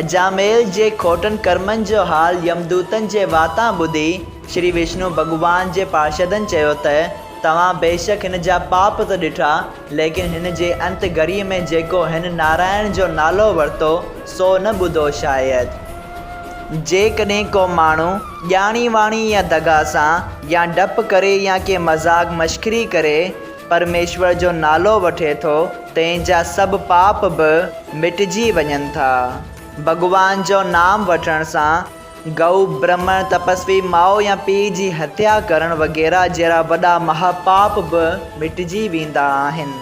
اجاميل جي کوٽن ڪرمن جو حال يمدوتن جي واتان ٻڌي، شري وشنو ڀڳوان جي پارشدن چيو ته، توهان بيشڪ هن جا پاپ ته ڏٺا، ليڪن هن جي انت گهڙيء ۾ جيڪو هن نارائڻ جو نالو ورتو، سو نه ٻڌو شايد. جيڪڏهن ڪو ماڻهو ڄاڻي واڻي يا دغا سان يا ڊپ ڪري يا ڪنهن مذاق مشڪري ڪري پرميشور جو نالو وٺي ٿو تنهن جا سڀ پاپ به مٽجي وڃن ٿا. ڀڳوان جو نام وٺڻ سان گئو، برهمڻ، تپسوي، ماء يا پيء جي هتيا ڪرڻ وغيره جهڙا وڏا مها پاپ به مٽجي ويندا آهن.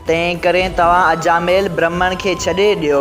تنهن ڪري توهان اجاميل برهمڻ کي ڇڏي ڏيو.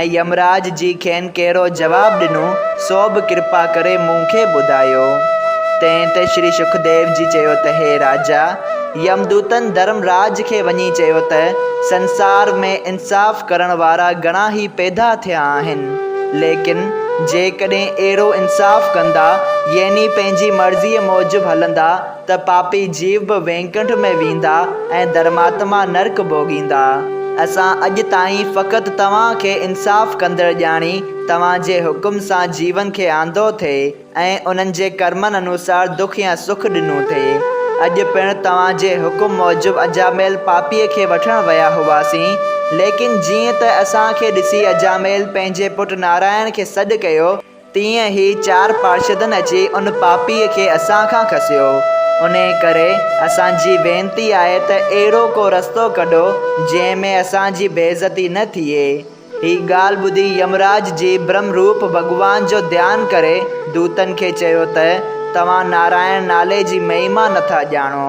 ۽ يمراج جي کين ڪهڙو جواب ڏنو، سو به ڪرپا ڪري مون کي ٻڌايو. تنهن تي شري شڪديو جي چيو ته هي راجا! يمدوتن ڌرمراج کي وڃي چيو ته سنسار ۾ انصاف ڪرڻ وارا گهڻا ئي پيدا ٿيا آهن، ليڪن جيڪڏهن اهڙو انصاف ڪندا يعني پنهنجي مرضيء موجب هلندا، ته پاپي جيو به وينڪنٺ ۾ ويندا ۽ ڌرماتما نرڪ ڀوڳيندا. اسان اڄ تائين فقط توهان کي انصاف ڪندڙ ڄاڻي توهان جي حڪم سان جيون کي آندو ٿي ۽ انهن جي ڪرمن انوسار دک يا سک ڏنو ٿي. اڄ پڻ توهان جي حڪم موجب اجاميل پاپيء کي وٺڻ ويا هئاسين، ليڪن جيئن ته اسان کي ڏسي اجاميل پنهنجي پٽ نارائڻ کي سڏ ڪيو، تيئن هي چار پارشدن اچي ان پاپيء کي اسان کان کسيو. انهيء ڪري اسان جي وينتي آهي ته اهڙو ڪو رستو ڪڍو، جنهن ۾ اسان جي بي عزتي نه ٿئي. هي ڳالهه ٻڌي يمراج جي برهم روپ ڀڳوان جو ڌيان ڪري دوتن کي چيو ته، توهان نارائڻ نالي جي مهيما نٿا ڄاڻو.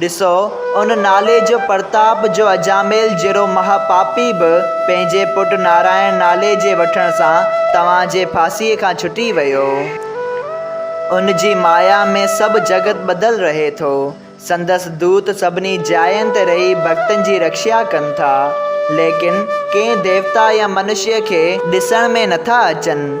ڏسو، ان نالي جو پرتاپ جو اجاميل جهڙو مها پاپي به پنهنجي پٽ نارائڻ نالي جي وٺڻ سان توهان جي ڦاسيء کان ڇٽي ويو. ان جي مايا ۾ سڀ جڳت ٻڌل رهي ٿو. سندس دوت سڀني جاين تي رهي ڀڳتن جي رڪشا ڪن ٿا. ليڪن ڪنهن ديوتا يا منشيء کي ڏسڻ ۾ نٿا اچن.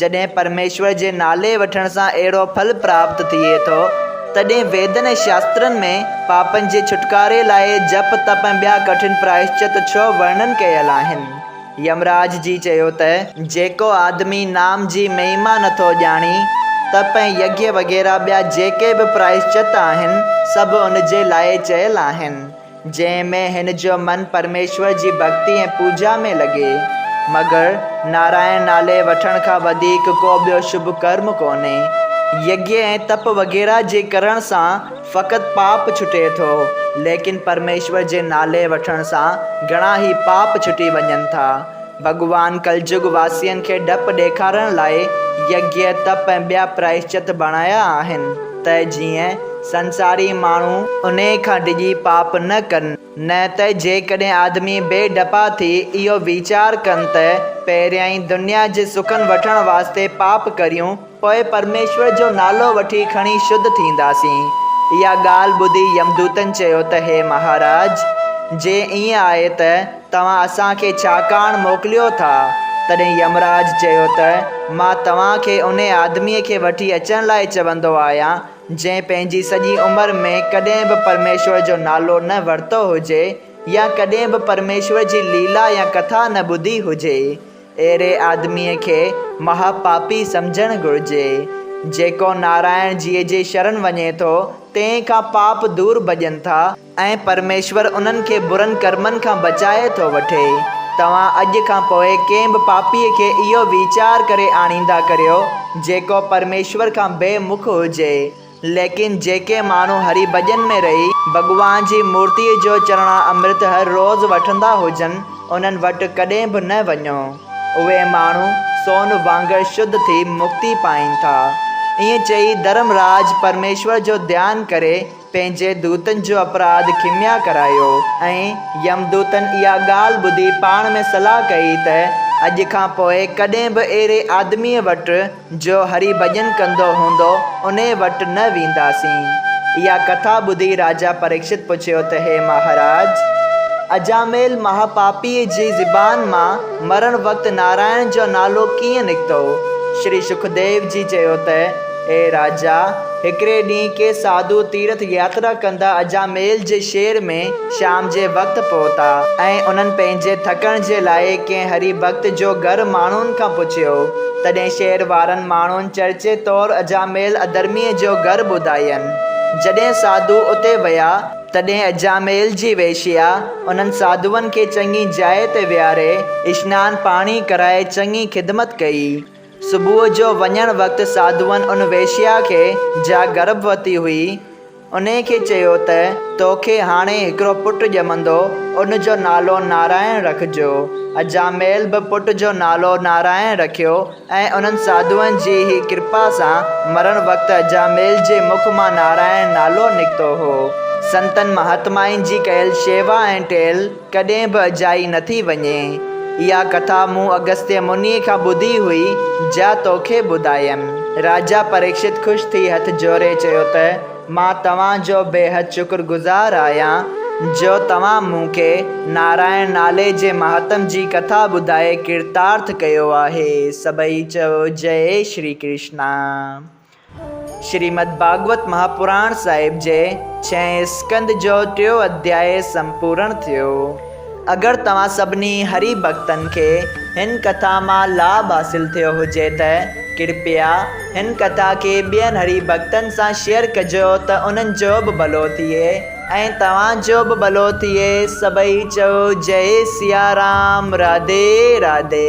جڏهن پرميشور جي نالي وٺڻ سان اهڙو ڦل پراپت ٿئي ٿو، تڏهن ويدن ۽ شاسترن ۾ پاپن جي ڇوٽڪاري لاء جپ، تپ ۽ ٻيا ڪٺن پرائشچت ڇهه ورڻن ڪيل آهن. يمراج جي چيو ته. جيڪو آدمي نام جي مهيما نٿو ڄاڻي، تپ ۽ يگيه وغيره ٻيا جيڪي به پرائشچت آهن، سڀ ان جي لاء چيل آهن. جنهن ۾ هن جو من پرميشور جي ڀڳتي ۽ پوڄا ۾ لڳي. مگر نارائڻ نالي وٺڻ کان وڌيڪ ڪو ٻيو شڀ ڪرم ڪونهي. يگيه ۽ تپ وغيره جي ڪرڻ سان فقط پاپ ڇٽي ٿو، ليڪن پرميشور جي نالي وٺڻ سان گهڻا ئي پاپ ڇٽي وڃن ٿا. ڀڳوان ڪلجگ واسين کي ڊپ ڏيکارڻ لاء يگيء، تپ ۽ ٻيا پرائشچت بڻايا آهن ته جيئن سنساري ماڻهو انهيء کان ڊڄي پاپ نه ڪن. نه ته جيڪڏهن آدمي بي ڊپا ٿي اهو ويچار ڪن ته پهريائين دنيا جي سکن وٺڻ واسطي پاپ ڪريون، پوء پرميشور جو نالو وٺي کڻي شڌ ٿينداسين. اها ڳالهه ٻڌي يمدوتن چيو ته هي مهاراج! جي ائين آهي ته توهان اسان کي ڇا ڪاڻ موڪليو ٿا؟ تڏهن يمراج چيو ته مان توهان کي ان آدميء کي وٺي اچڻ لاء چوندو آهيان، جنهن پنهنجي سڄي عمر ۾ ڪڏهن به پرميشور جو نالو نه ورتو هجي يا ڪڏهن به پرميشور جي ليلا يا ڪٿا نه ٻڌي هجي. اهڙي آدميء کي مها پاپي سمجهڻ گهرجي. جيڪو نارائڻ جيء جي شرن وڃي ٿو، تنهن کان پاپ دور ڀڄن ٿا ۽ پرميشور انهن کي برن ڪرمن کان بچائي ٿو وٺي. توهان اڄ کان پوء ڪنهن به پاپيء کي اهو ويچار ڪري آڻيندا ڪريو، جيڪو پرميشور کان بي مک هجي. ليڪن جيڪي ماڻهو هري ڀڄن ۾ رهي ڀڳوان جي مورتيء جو چرڻا امرت هر روز وٺندا هجن، انهن وٽ ڪڏهن به نه وڃو. اهي ماڻهو سون وانگر شڌ ٿي مڪتي پائين ٿا. ائين چئي ڌرم راج پرميشور جو ڌيان ڪري پنهنجي دوتن جو اپراڌ کميا ڪرايو ۽ يم دوتن اها ڳالهه ٻڌي پاڻ ۾ صلاح ڪئي ته اڄ کان پوء ڪڏهن به اهڙي آدميء وٽ جو هري ڀڄن ڪندو هوندو، انهيء وٽ نه وينداسين. اها ڪٿا ٻڌي راجا پريڪشت پڇيو ته هي مهاراج! اجاميل مهاپاپيء جي زبان مان مرڻ وقت نارائڻ جو نالو ڪيئن نڪتو؟ شري شڪديو جي چيو ته اي راجا! هڪڙي ڏينهن ڪي ساڌو تيرٿ ياترا ڪندا اجاميل جي شهر ۾ شام جي وقت پهتا ۽ انهن پنهنجي ٿڪڻ جي لاء ڪنهن هري ڀڳت جو گهر ماڻهن کان پڇيو. تڏهن شهر وارن ماڻهن چرچي طور اجاميل اڌرميء جو گهر ٻڌاين. جڏهن ساڌو اتي ويا، تڏهن اجاميل جي ويشيا انهن ساڌوئن کي چڱي جاء تي ويهاري اشنان پاڻي ڪرائي چڱي خدمت ڪئي. صبح جو وڃڻ وقت ساڌوئن ان ويشيا کي، جا گرڀوتي هئي، انهيء کي چيو ته، توکي هاڻي هڪڙو پٽ ڄمندو، ان جو نالو نارائڻ رکجو. اجاميل به پٽ جو نالو نارائڻ رکيو ۽ انهن ساڌوئن جي ئي ڪرپا سان مرڻ وقت اجاميل جي مک مان نارائڻ نالو نڪتو هو. سنتن مهاتمائن جي ڪيل شيوا ۽ ٽيل، ڪڏهن به اجائي نه ٿي وڃي. اها ڪٿا مون اگستيه منيء کان ٻڌي هئي، جا توکي ٻڌايم. راجا پريڪشت خوش ٿي هٿ جوڙي چيو ته، مان توهان جو بيحد شڪر گذار آهيان، جو توهان مون کي نارائڻ نالي جي مهاتم جي ڪٿا ٻڌائي ڪرتارٿ ڪيو آهي. سڀئي چيو، جئي شري ڪرشنا! شريمد ڀاڳوت مهاپراڻ صاحب جي ڇهين اسڪند جو ٽيون اڌياء سمپورڻ ٿيو. اگر توهان سڀني هري ڀڳتن کي هن ڪٿا مان لاڀ حاصل ٿيو هجي ته ڪرپيا هن ڪٿا کي ٻين هري ڀڳتن سان شيئر ڪجو ته انهن جو به ڀلو ٿئي ۽ توهان جو به ڀلو ٿئي سڀئي چئو جئي سيارام راڌي راڌي.